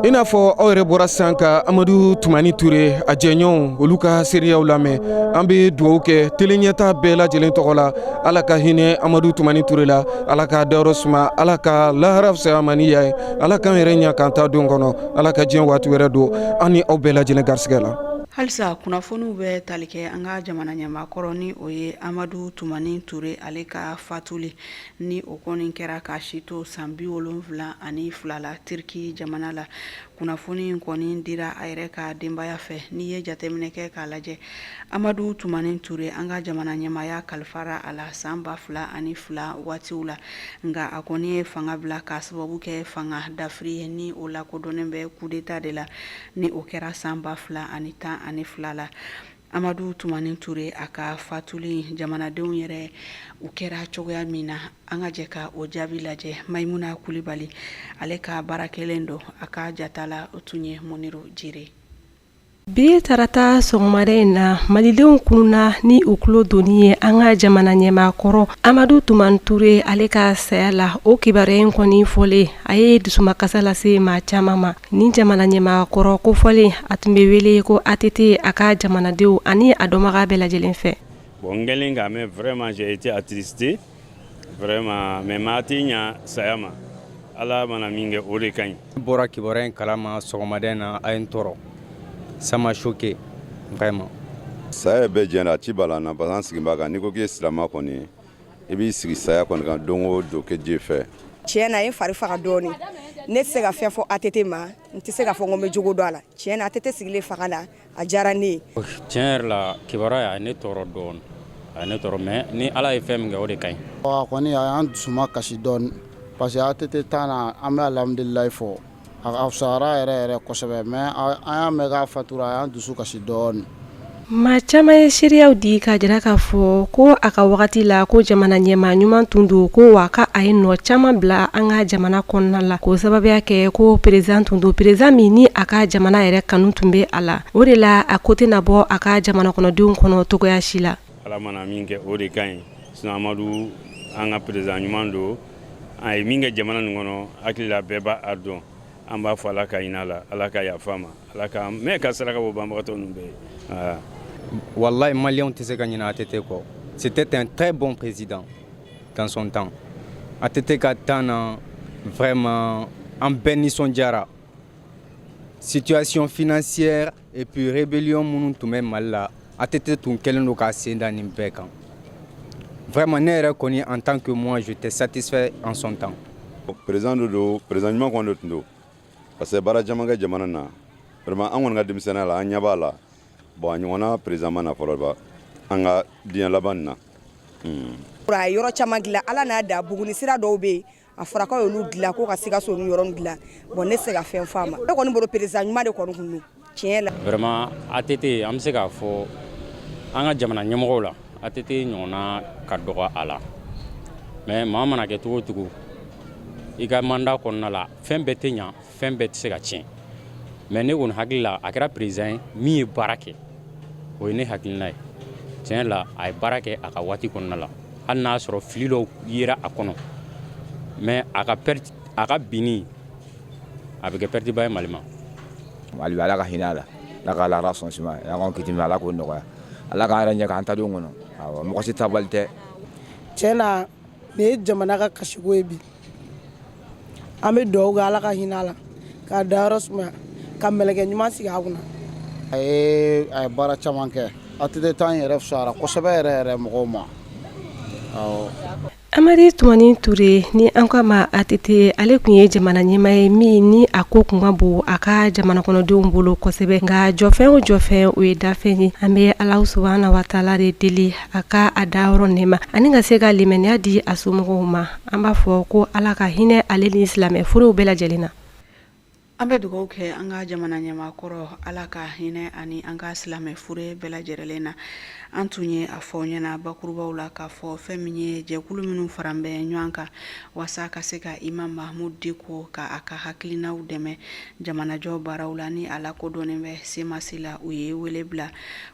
i n'a fɔ aw yɛrɛ bɔra sisan ka amadu tumani ture a jɛɲɔgɔnw olu ka seereyaw lamɛn an bɛ dugawu kɛ tele ɲɛta bɛɛ lajɛlen tɔgɔ la ala ka hinɛ amadu tumani ture la ala k'a dayɔrɔ suma ala ka lahara fisaya a ma ni yan ye ala k'an yɛrɛ ɲɛ k'an taa don kɔnɔ ala ka diɲɛ waati wɛrɛ don an ni aw bɛɛ lajɛlen garisɛgɛ la halisa kunnafoniw bɛ tali kɛ an ka jamana ɲɛmaakɔrɔ ni o ye amadu tumani ture ale ka fatuli ni o kɔni kɛra k'a si to san bi wolonfila ani fila la tiriki jamana la kunnafoni in kɔni dira a yɛrɛ ka denbaya fɛ n'i ye jateminɛ kɛ k'a lajɛ amadu tumani ture an ka jamana ɲɛmaaya kalifara a la san ba fila ani fila waatiw la nka a kɔni ye fanga bila k'a sababu kɛ fanga dafiri ye ni o lakodɔnnen bɛ kudeta de la ni o kɛra san ba fila ani tan ani fila la amadu tumani ture a ka fatuli jamanadenw yɛrɛ u kɛra cogoya min na an ka jɛ ka o jaabi lajɛ mayimuna kulibali ale ka baara kɛlen don a ka jatala o tun ye muniru jire Bi tarata sɔgɔmada in na malidenw kununna ni u tulo donni ye an ka jamana ɲɛmaakɔrɔ amadu tumani ture ale ka saya la o kibaruya in kɔni fɔlen a ye dusumakasi lase maa caman ma ni jamana ɲɛmaakɔrɔ kofɔlen a tun bɛ wele ko ATT a ka jamanadenw ani a dɔnbaga bɛɛ lajɛlen fɛ vraiment mais maa tɛ ɲa saya ma ala mana min kɛ o de ka ɲi bɔra kibaruya in kalama sɔgɔmada in na a ye n tɔɔrɔ ça m'a choqué vraiment saya bɛɛ jɛna a tɛ bala an na parce que an sigi b'a kan n'i ko k'i ye silama kɔni i b'i sigi saya kɔni kan don o don kɛ je fɛ tiɲɛ na a ye fari faga dɔɔni ne tɛ se ka fɛn fɔ ATT ma n tɛ se ka fɔ n ko n bɛ jogo dɔn a la tiɲɛ na ATT sigilen fanga na a diyara ne ye tiɲɛ yɛrɛ la kibaruya a ye ne tɔɔrɔ dɔɔnin a ye ne tɔɔrɔ mais ni ala ye fɛn min kɛ o de ka ɲi a kɔni a y'an dusuma kasi dɔɔnin parce que ATT temps na an bɛ alhamdulilayi fɔ a fisayara yɛrɛ yɛrɛ kosɛbɛ mais an y'a mɛn k'a fatura a y'an dusu kasi dɔɔnin maa caman ye seereyaw di k'a jira k'a fɔ ko a ka wagati la ko jamana ɲɛmaa ɲuman tun don ko wa ka a ye nɔ caman bila an ka jamana kɔnɔna la k'o sababuya kɛ ko président tun don président min ni a ka jamana yɛrɛ kanu tun bɛ a la o de la a ko tɛna bɔ a ka jamana kɔnɔdenw kɔnɔ cogoya si la ala mana min kɛ o de ka ɲi sinon amadu an ka président ɲuman don a ye min kɛ jamana nin kɔnɔ hakili la bɛɛ b'a dɔn an b'a fɔ ala ka hinɛ a la ala ka yafa a ma ala ka mɛn ka saraka bɔ banbagatɔ ninnu bɛɛ ye wallahi maliens tɛ se ka ɲinɛ ATT kɔ c'était un très bon président tansɔn tan a tɛ te ka tan na vma an bɛɛ nisɔn jarayara sitiyasiy fsɛ epurerebellion minnu tun bɛ mali la a tɛ te tun kɛlen don ka senda nin bɛɛ kan vma ne yɛrɛ kɔni an tan kɛ mɔn su tɛ satisɛ ansɔn tan perez don don perez ɲuman kɔn don tun don parce que baara camankɛ jamana na walima an kɔni ka denmisɛnnin la an ɲɛ b'a la bon a ɲɔgɔnna président ma na fɔlɔ ba an ka diɲɛ laban na hmm. a ye yɔrɔ caman dilan ala n'a da buguni sira dɔw bɛ yen a fɔra k'a y'olu dilan ko ka sikaso ni yɔrɔ dilan bon ne tɛ se ka fɛn f'a ma ne kɔni bolo président ɲuman de kɔni tun don tiɲɛ la vraiment ATT an bɛ se k'a fɔ an ka jamana ɲɛmɔgɔw la ATT ɲɔgɔnna ka dɔgɔ a la mais maa mana kɛ cogo o cogo i ka mandat kɔnɔna la fɛn bɛɛ tɛ ɲa fɛn bɛɛ tɛ se ka tiɲɛ mais ne kɔni hakili la a kɛra président ye min ye baara kɛ o ye ne hakilina ye tiɲɛ la a ye baara kɛ a ka waati kɔnɔna la hali n'a y'a sɔrɔ fili dɔw yera a kɔnɔ mais a ka a ka binni a bɛ kɛ perte ba ye mali ma mali ala ka hinɛ a la ala ka lahara so sumaya ani kiti ala k'o nɔgɔya ala k'an yɛrɛ ɲɛ an ta don kɔnɔ mɔgɔ si taabali tɛ tiɲɛ na nin ye jamana ka kasiko ye bi an bɛ dugawu kɛ ala ka hinɛ a la k'a dayɔrɔ sumaya ka mɛlɛkɛ ɲuman sigi a kunna a ye a ye baara caman kɛ atete tan yɛrɛ fisayara kosɛbɛ yɛrɛ yɛrɛ mɔgɔw ma amadu tumani ture ni an k'a ma atete ale tun ye jamana ɲɛmaa ye min ni a ko tun ka bon a ka jamana kɔnɔdenw bolo kosɛbɛ nka jɔfɛn o jɔfɛn o ye dafɛn ye an bɛ alahu subhana wa taala de deli a ka a dayɔrɔ nɛɛma ani ka se ka limaniya di a somɔgɔw ma An b'a fɔ ko ala ka hinɛ ale ni silamɛ furew bɛɛ lajɛlen na an bɛ dugawu kɛ an ka jamana ɲɛmaa kɔrɔ ala ka hinɛ ani an ka silamɛ fure bɛɛ lajɛlen na an tun ye a fɔ ɲɛna bakurubaw la k'a fɔ fɛn min ye jɛkulu minnu faran bɛ ɲɔgɔn kan walasa ka se ka imamu mahamudu diko ka a ka hakilinaw dɛmɛ jamanajɔ baaraw la ni a lakodɔnnen bɛ semasi la u ye wele bila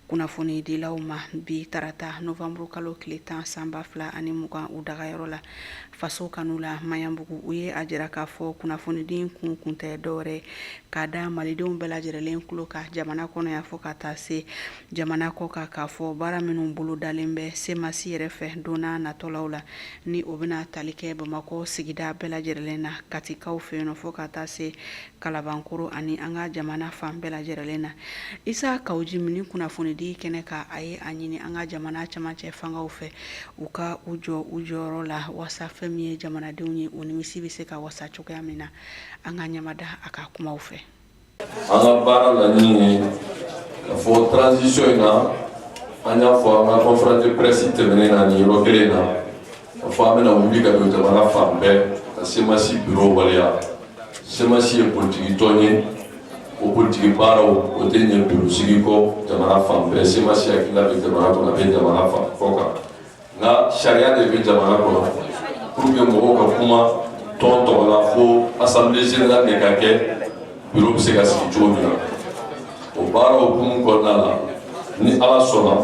kunnafonidilaw ma bi tarata novanburu kalo tile tan san ba fila ani mugan u dagayɔrɔ la faso kanu la maɲanbugu u ye a jira k'a fɔ kunnafonidi in kun kun tɛ dɔwɛrɛ k'a da malidenw bɛɛ lajɛrɛlen tulo kan jamana kɔnɔ yan fo ka taa se jamana kɔkan k'a fɔ baara minnu bolodalen bɛ semasi yɛrɛ fɛ donna natɔlaw la ni o bɛna tali kɛ bamakɔ sigida bɛɛ lajɛrɛlen na katikaw fɛ yen fo ka taa se kalabankoro ani an ka jamana fan bɛɛ lajɛrɛlen na isa kawu jimi nin kunnafonidi kɛnɛ kan a ye a ɲini an ka jamana camancɛ fangaw fɛ u ka u jɔ u jɔyɔrɔ la waasa fɛn min ye jamanadenw ye o nimisi bɛ se ka wasa cogoya min na an ka ɲamada a ka kumaw fɛ an ka baara laɲini ye k'a fɔ transition in na an y'a fɔ an ka conférence de presse tɛmɛnen na nin yɔrɔ kelen na K'a fɔ an bɛna wuli ka don jamana fan bɛɛ ka semasi biro waleya semasi ye politikitɔn ye o politiki baaraw o tɛ ɲɛ biro sigi kɔ jamana fan bɛɛ semasi hakilila bɛ jamana kɔnɔ a bɛ jamana fan kɔkan nka sariya de bɛ jamana kɔnɔ pour que mɔgɔw ka kuma tɔn tɔgɔ la fo assemblée générale de ka kɛ biro bɛ se ka sigi cogo min na o baara hukumu kɔnɔna la ni ala sɔnna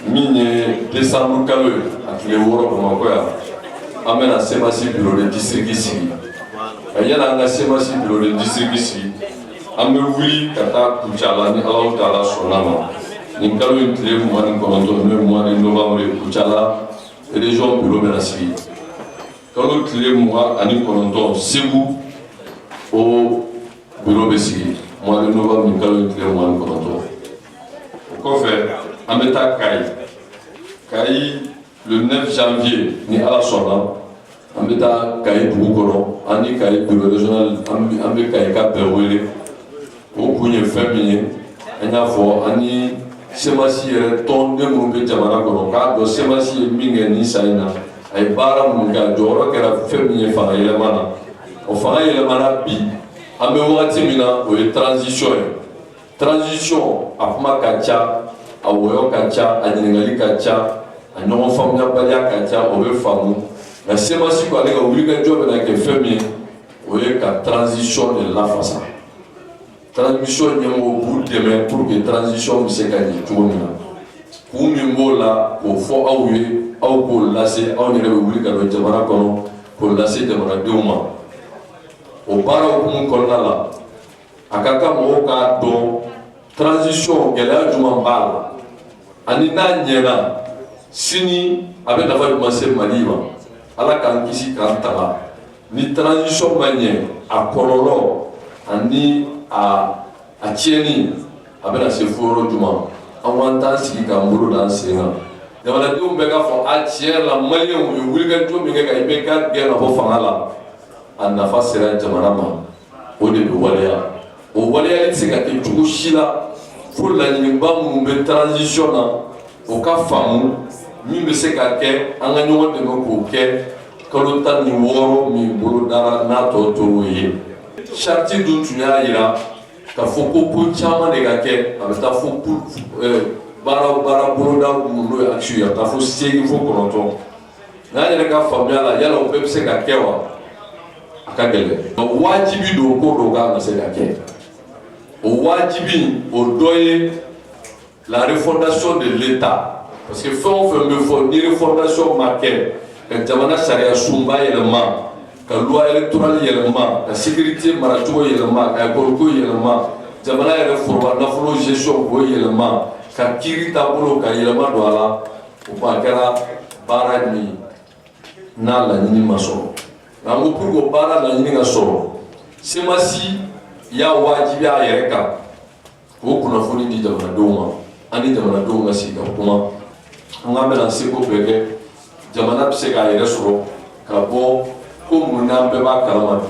min ye desanburu kalo ye a tile wɔɔrɔ bamakɔ yan an bɛna semasi biro de disiriki sigi nka yani an ka semasi biro de disiriki sigi an bɛ wuli ka taa kucala ni alahu taala sɔnna a ma nin kalo in tile mugan ni kɔnɔntɔn n'o ye mugan ni novanburu ye kucala région biro bɛna sigi kalo tile mugan ani kɔnɔntɔn segu o biro bɛ sigi mois de novembre kalo tile mugan ni kɔnɔntɔn o kɔfɛ an bɛ taa kayi kayi le 9 janvier ni ala sɔnna an bɛ taa kayi dugu kɔnɔ an ni kayi biro régional an bɛ kayikaw bɛɛ wele o kun ye fɛn min ye an y'a fɔ an ni semasi yɛrɛ tɔnden minnu bɛ jamana kɔnɔ k'a dɔn semasi ye min kɛ nin san in na a ye baara minnu kɛ a jɔyɔrɔ kɛra fɛn min ye fanga yɛlɛma na o fanga yɛlɛmana bi an bɛ wagati min na o ye transition ye transition a kuma ka ca a wɔyɔ ka ca a ɲininkali ka ca a ɲɔgɔn faamuyabaliya ka ca o bɛ faamu nka semasi ko ale ka wulikajɔ bɛna kɛ fɛn min ye o ye ka transition de lafasa transition ɲɛmɔgɔ b'u dɛmɛ pour que transition bɛ se ka ɲɛ cogo min na kun min b'o la k'o fɔ aw ye aw k'o lase aw yɛrɛ bɛ wuli ka don jamana kɔnɔ k'o lase jamanadenw ma o baara hukumu kɔnɔna la a ka kan mɔgɔw k'a dɔn transition gɛlɛya jumɛn b'a la ani n'a ɲɛna sini a bɛ nafa jumɛn se mali ma ala k'an kisi k'an tanga ni transition ma ɲɛ a kɔlɔlɔ ani a a tiɲɛni a bɛna se fo yɔrɔ jumɛn an k'an t'an sigi k'an bolo d'an sen kan jamanadenw bɛɛ k'a fɔ a tiɲɛ la maliyɛnw u ye wulikajɔ min kɛ ka IBK gɛn ka bɔ fanga la a nafa sera jamana ma o de bɛ waleya o waleyali tɛ se ka kɛ cogo si la fo laɲiniba minnu bɛ transition na o ka faamu min bɛ se ka kɛ an ka ɲɔgɔn dɛmɛ k'o kɛ kalo tan ni wɔɔrɔ min bolodara n'a tɔ tor'o ye charte dun tun y'a jira k'a fɔ ko ko caman de ka kɛ a bɛ taa fo baara baara boloda minnu n'o ye action ye a bɛ taa fo seegin fo kɔnɔntɔn N'a yɛrɛ ka faamuya la yala o bɛɛ bɛ se ka kɛ wa a ka gɛlɛn nka wajibi don ko dɔ ka kan ka se ka kɛ o wajibi o dɔ ye la refondation de l'État parce que fɛn o fɛn bɛ fɔ ni refondation ma kɛ ka jamana sariya sunba yɛlɛma ka loi électorale yɛlɛma ka sécurité maracogo yɛlɛma ka école ko yɛlɛma jamana yɛrɛ foroba nafolo gestion k'o yɛlɛma ka kiiri taabolo ka yɛlɛma don a la o ko a kɛra baara min ye n'a laɲini ma sɔrɔ nka n ko pour que o baara laɲini ka sɔrɔ semasi y'a wajibiya a yɛrɛ kan k'o kunnafoni di jamanadenw ma an ni jamanadenw ka sigi ka kuma an k'an bɛna seko bɛɛ kɛ jamana bɛ se k'a yɛrɛ sɔrɔ ka bɔ ko mun n'an bɛɛ b'a kalama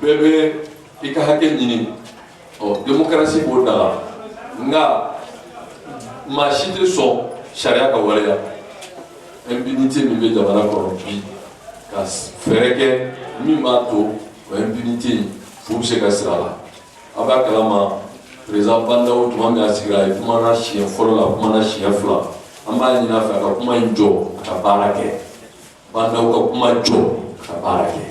bi bɛɛ bɛ i ka hakɛ ɲini ɔ démocratie b'o da la nka maa si tɛ sɔn sariya ka waleya impunité min bɛ jamana kɔnɔ bi ka fɛɛrɛ kɛ min b'a to o impunité in fu bɛ se ka siri a la a b'a kalama président Bah N'Daw tuma min a sigira a ye kumana siɲɛ fɔlɔ la a kumana siɲɛ fila an b'a ɲini a fɛ a ka kuma in jɔ a ka baara kɛ Bah N'Daw ka kuma jɔ a ka baara kɛ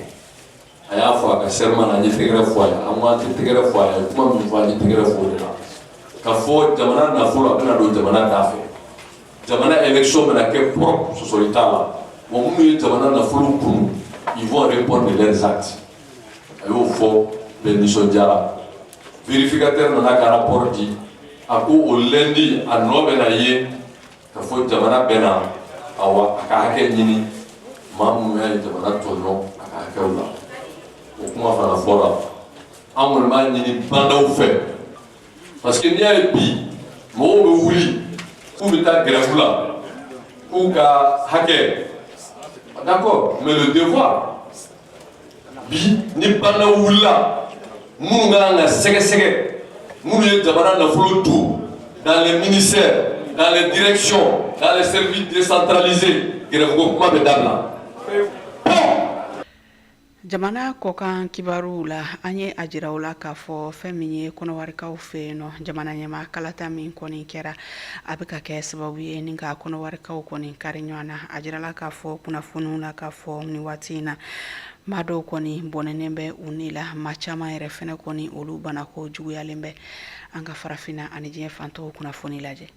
a y'a fɔ a ka serment na an ye tɛgɛrɛ fɔ a ye an ko an tɛ tɛgɛrɛ fɔ a ye kuma min fɔ an ye tɛgɛrɛ fɔ o de la ka fɔ jamana nafolo a bɛna don jamana da fɛ jamana élection bɛna kɛ propre sɔsɔli t'a la maa minnu ye jamana nafolo kunu ils vont répondre de leurs actes a y'o fɔ bɛɛ nisɔndiyara vérificateur nana ka rapport di a ko o lundi a nɔ bɛna ye ka fɔ jamana bɛna awa a ka hakɛ ɲini maa minnu y'a ye jamana tɔɲɔ a ka hakɛw la o kuma fana fɔra an kɔni b'a ɲini Ba Ndaw fɛ parce que n'i y'a ye bi mɔgɔw bɛ wuli k'u bɛ taa gɛrɛfu la k'u ka hakɛ d'accord mais le devoir bi ni Ba Ndaw wulila minnu ka kan ka sɛgɛsɛgɛ minnu ye jamana nafolo to dans les ministères dans les directions dans les services décentralisés grève ko kuma bɛ dabila jamana kɔkan kibaruw la an ye a jira u la k'a fɔ fɛn min ye kɔnɔwarikaw fɛ yen nɔ jamana ɲɛmaa kalata min kɔni kɛra a bɛ ka kɛ sababu ye ni ka kɔnɔwarikaw kɔni kari ɲɔgɔn na a jirala k'a fɔ kunnafoniw la k'a fɔ ni waati in na maa dɔw kɔni bɔnɛnen bɛ u ni la maa caman yɛrɛ fɛnɛ kɔni olu banako juguyalen bɛ an ka farafinna ani diɲɛ fantɔw kunnafoni lajɛ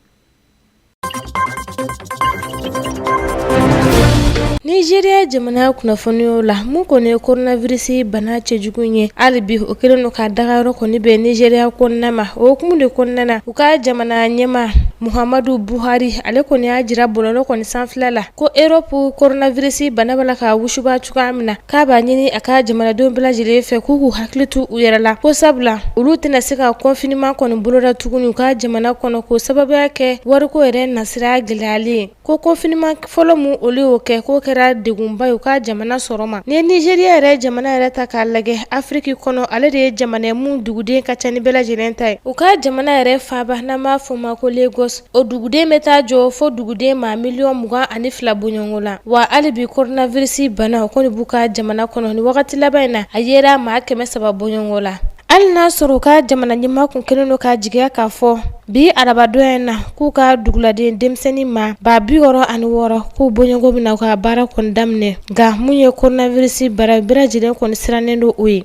nizeriya jamana kunnafoniw la mun kɔni ye koronavirisi bana cɛjugu ye hali bi o kɛlen don ka dagayɔrɔ kɔni bɛn nizeriya kɔnɔna ma o hukumu de kɔnɔna na u ka jamana ɲɛmaa muhamadu buhari ale kɔni y'a jira bɔlɔlɔ kɔni sanfɛ la ko erɔpu koronavirisi bana b'a la ka wusuba cogoya min na k'a b'a ɲini a ka jamanadenw bɛɛ lajɛlen fɛ k'u k'u hakili to u yɛrɛ la ko sabula olu tɛna se ka confinement kɔni boloda tuguni u ka jamana kɔnɔ k'o sababuya kɛ wariko yɛrɛ nasira gɛlɛyalen Ko confinement fɔlɔ min olu y'o kɛ k'o kɛra degunba ye u ka jamana sɔrɔ ma ni nizeriya yɛrɛ jamana yɛrɛ ta k'a lajɛ afiriki kɔnɔ ale de ye jamana min duguden ka ca ni bɛɛ lajɛlen ta ye u ka jamana yɛrɛ faaba n'an b'a fɔ ma ko Lagos o duguden bɛ taa jɔ fo duguden maa miliyɔn mugan ani fila bɔɲɔgɔnko la wa hali bi koronavirisi bana o kɔni b'u ka jamana kɔnɔ ni wagati laban in na a yera maa kɛmɛ saba bɔɲɔgɔnko la Hali n'a sɔrɔ u ka jamana ɲɛmaa tun kɛlen don ka jigiya k'a fɔ bi arabadon in na k'u ka duguladen denmisɛnnin maa ba bi wɔɔrɔ ani wɔɔrɔ k'u bɔɲɔgɔnko bɛna u ka baara kɔni daminɛ nka mun ye koronavirisi bana bɛɛ lajɛlen kɔni sirannen don o ye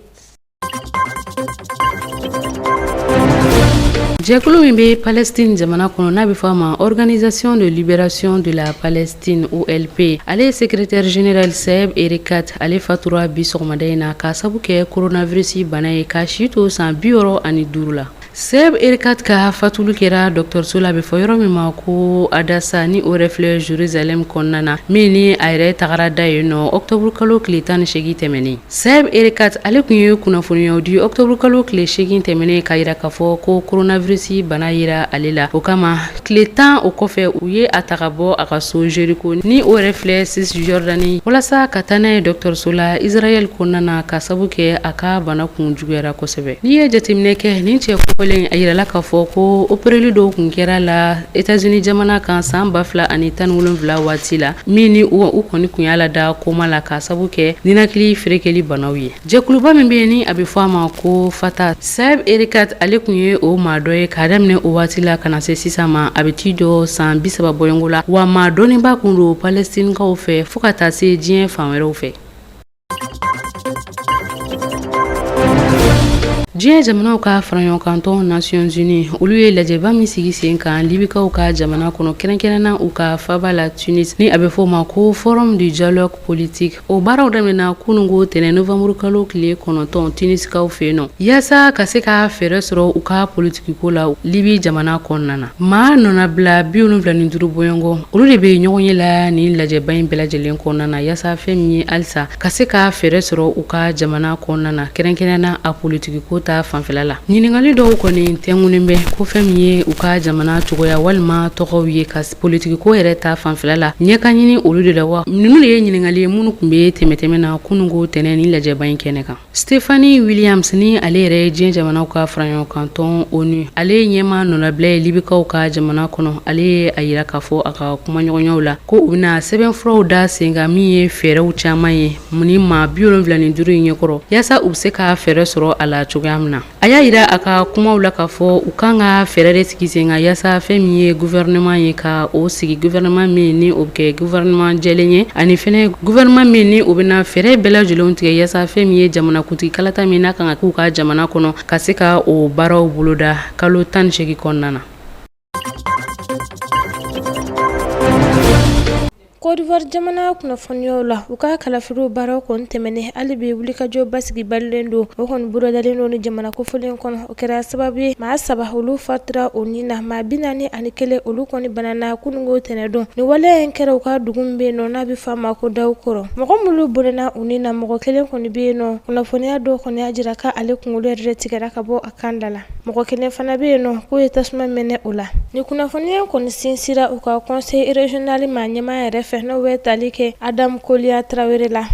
jɛkulu min bɛ palɛsitini jamana kɔnɔ n'a bɛ fɔ a ma organisation de libération de la palɛ Tine OLP ale ye secrétaire général Saeb Erekat ale fatura bi sɔgɔmada in na k'a sabu kɛ koronavirisi bana ye k'a si to san bi wɔɔrɔ ani duuru la Saeb Erekat ka fatuli kɛra dɔgɔtɔrɔso la a bɛ fɔ yɔrɔ min ma ko adasa ni o yɛrɛ filɛ zeruzalɛmu kɔnɔna na min ni a yɛrɛ tagara da yen nɔ ɔkutɔburukalo tile tan ni seegin tɛmɛnen Saeb Erekat ale kun ye kunnafoniyaw di octobre kalo tile 8 tɛmɛnen k'a yira k'a fɔ ko coronavirus bana yera ale la, o kama tile 10 o kɔfɛ u ye a ta ka bɔ a ka so Jericho ni o yɛrɛ filɛ Cisjordanie walasa ka taa n'a ye dɔgɔtɔrɔso la Israel kɔnɔna na ka sabu kɛ a ka bana kun juguyara kosɛbɛ, n'i ye jateminɛ kɛ nin cɛ kofɔlen in a yirala k'a fɔ ko opereli dɔw kun kɛra a la Etazini jamana kan san ba fila ani tan ni wolonwula waati la min ni u kɔni kun y'a lada koma la ka sabu kɛ ninakili ferekeli banaw ye jɛkuluba min bɛ yen ni a bɛ fɔ a ma ko Fatah Saeb Erekat ale kun ye o maa dɔ ye ka daminɛ o waati la ka na se sisan ma a bɛ t'i jɔ san bi saba bɔɲɔgɔnko la wa maa dɔnnenba kun don palɛstinikaw fɛ fo ka taa se diɲɛ fan wɛrɛw fɛ diɲɛ jamanaw ka faraɲɔgɔnkantɔn nations unies olu ye lajɛba min sigi sen kan libikaw ka jamana kɔnɔ kɛrɛnkɛrɛnna u ka faba la tunis ni a bɛ fɔ ma ko forum du dialogue politique o baaraw daminɛna kunungo tɛnɛ novamburu kalo tile kɔnɔntɔn tunisikaw fɛ yen nɔ yaasa ka se ka fɛɛrɛ sɔrɔ u ka politique Ko la Libye jamana kɔnɔna na, maa nɔnabila 75 bɔɲɔgɔnko, olu de bɛ ɲɔgɔn ye la nin lajɛba in bɛɛ lajɛlen kɔnɔna na yasa fɛn min ye halisa ka se ka fɛɛrɛ sɔrɔ u ka jamana kɔnɔna na kɛrɛnkɛrɛn na a politiki ko ta fanfɛla la. Ɲininkali dɔw kɔni tɛnkunnen bɛ ko fɛn min ye u ka jamana cogoya walima tɔgɔw ye ka politiki ko yɛrɛ ta fanfɛla la ɲɛ ka ɲini olu de la wa? Ninnu de ye ɲininkali ye minnu kun bɛ tɛmɛn tɛmɛn na kununko tɛnɛn nin lajɛba in kɛnɛ kan. Stephanie Williams ni ale yɛrɛ ye diɲɛ jamanaw ka faraɲɔgɔnkantɔn onu ale ye ɲɛmaa nɔnabila ye libikaw ka jamana kɔnɔ ale ye a yira k'a fɔ a ka kumaɲɔgɔnyaw la ko u bɛna sɛbɛnfuraw da sen kan min ye fɛɛrɛw caman ye mun ni maa biwolonfila ni duuru in ɲɛkɔrɔ yaasa u bɛ se ka fɛɛrɛ sɔrɔ a la cogoya min na A y'a yira a ka kumaw la k'a fɔ u kan ka fɛɛrɛ de sigi sen kan yasa fɛn min ye gouvernement ye ka o sigi gouvernement min ni o bɛ kɛ gouvernement jɛlen ye ani fɛnɛ gouvernement min ni o bɛna fɛɛrɛ bɛɛ lajɛlenw tigɛ yasa fɛn min ye jamanakuntigi kalata min n'a kan ka k'u ka jamana kɔnɔ ka se ka o baaraw boloda kalo 18 kɔnɔna na. Kɔdiwari jamana kunnafoniyaw la u ka kalafiliw baaraw kɔni tɛmɛnen hali bi wulikajɔ basigi balilen don o kɔni bolodalen don ni jamana kofɔlen kɔnɔ o kɛra sababu ye maa saba olu fatira u ni na maa bi naani ani kelen olu kɔni banana kununko tɛnɛdon ni waleya in kɛra u ka dugu min bɛ yen nɔ n'a bɛ fɔ a ma ko Daoukro mɔgɔ minnu bɔnɔna u ni na mɔgɔ kelen kɔni bɛ yen nɔ kunnafoniya dɔw kɔni y'a jira k'ale kunkolo yɛrɛ de tigɛra ka bɔ a Kan dala mɔgɔ kelen fana bɛ yen nɔ k'u ye tasuma mɛnɛ o la nin kunnafoniya in kɔni sinsira u ka conseil regional maa ɲɛmaa yɛrɛ fɛ n'o bɛ tali kɛ Adam Kolia Tarawele la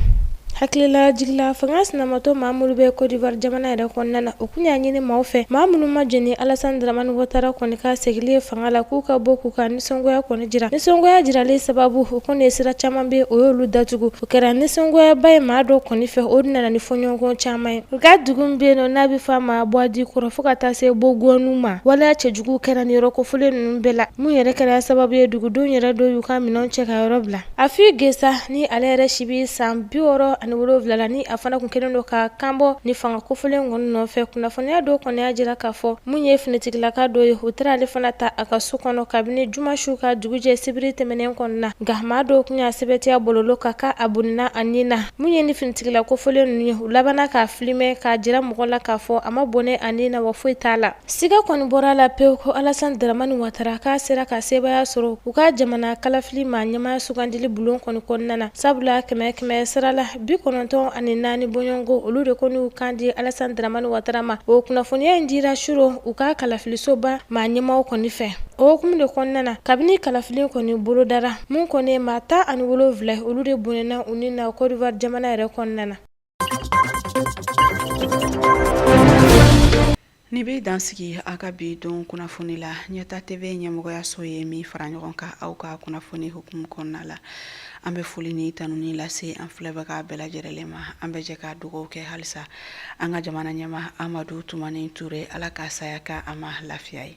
hakililajigi la fanga sinamatɔn maa minnu bɛ Cote d'Ivoire jamana yɛrɛ kɔnɔna na u kun y'a ɲini maaw fɛ maa minnu ma jɛn ni Alassane Dramane Ouattara kɔni ka segili ye fanga la k'u ka bɔ k'u ka nisɔngoya kɔni jira nisɔngoya jiralen sababu o kɔni ye sira caman bɛ o y'olu datugu o kɛra nisɔngoyaba ye maa dɔ kɔni fɛ o nana ni fɔɲɔgɔnkɔ caman ye u ka dugu min bɛ yen nɔ n'a bɛ fɔ a ma Bouadikro fo ka taa se Bongouanou ma waleya cɛjugu kɛra ni yɔrɔ kofɔlen ninnu bɛɛ la mun yɛrɛ kɛra sababu ye dugudenw yɛrɛ dɔw y'u ka minɛnw cɛ ka yɔrɔ bila Affi N'Guessan ni ale yɛrɛ si bɛ san bi wɔɔrɔ ani wolonwula la ni a fana kun kɛlen don ka kanbɔ ni fanga kofɔlen kɔni nɔfɛ kunnafoniya dɔw kɔni y'a jira k'a fɔ mun ye finitigilaka dɔ ye u taara ale fana ta a ka so kɔnɔ kabini juma su ka dugujɛ sibiri tɛmɛnen kɔnɔna na nka maa dɔw kun y'a sɛbɛntiya bɔlɔlɔ kan k'a bɔnɛna a ni na mun ye ni finitigila kofɔlen ninnu ye u labanna k'a filimɛ k'a jira mɔgɔ la k'a fɔ a ma bɔnɛ a ni na wa foyi t'a la Siga kɔni bɔra a la pewu ko Alassane Dramane Ouattara k'a sera ka sebaaya sɔrɔ u ka jamana kalafili maa ɲɛmaa sugandili bulon kɔni kɔnɔna na, sabula kɛmɛ kɛmɛ sara la bi kɔnɔntɔn ani naani bɔɲɔgɔnko olu de kɔni y'u kan di Alassane Dramane Ouattara ma. O kunnafoniya in dira surɔ u ka kalafilisoba maa ɲɛmaaw kɔni fɛ. O hukumu de kɔnɔna na, kabini kalafili kɔni bolodara, mun kɔni ye maa tan ani wolonwula ye, olu de bɔnɛna u ni na Côte d'Ivoire jamana yɛrɛ kɔnɔna na. Nin bɛ dan sigi aw ka bi don kunnafoni la Ɲɛta TV ɲɛmɔgɔyaso ye min fara ɲɔgɔn kan aw ka kunnafoni hukumu kɔnɔna la an bɛ foli ni tanuni lase an filɛbaga bɛɛ lajɛrɛlen ma an bɛ jɛ ka dugawu kɛ halisa an ka jamana ɲɛmaa Amadou Toumani Touré ala ka saya k'a ma lafiya ye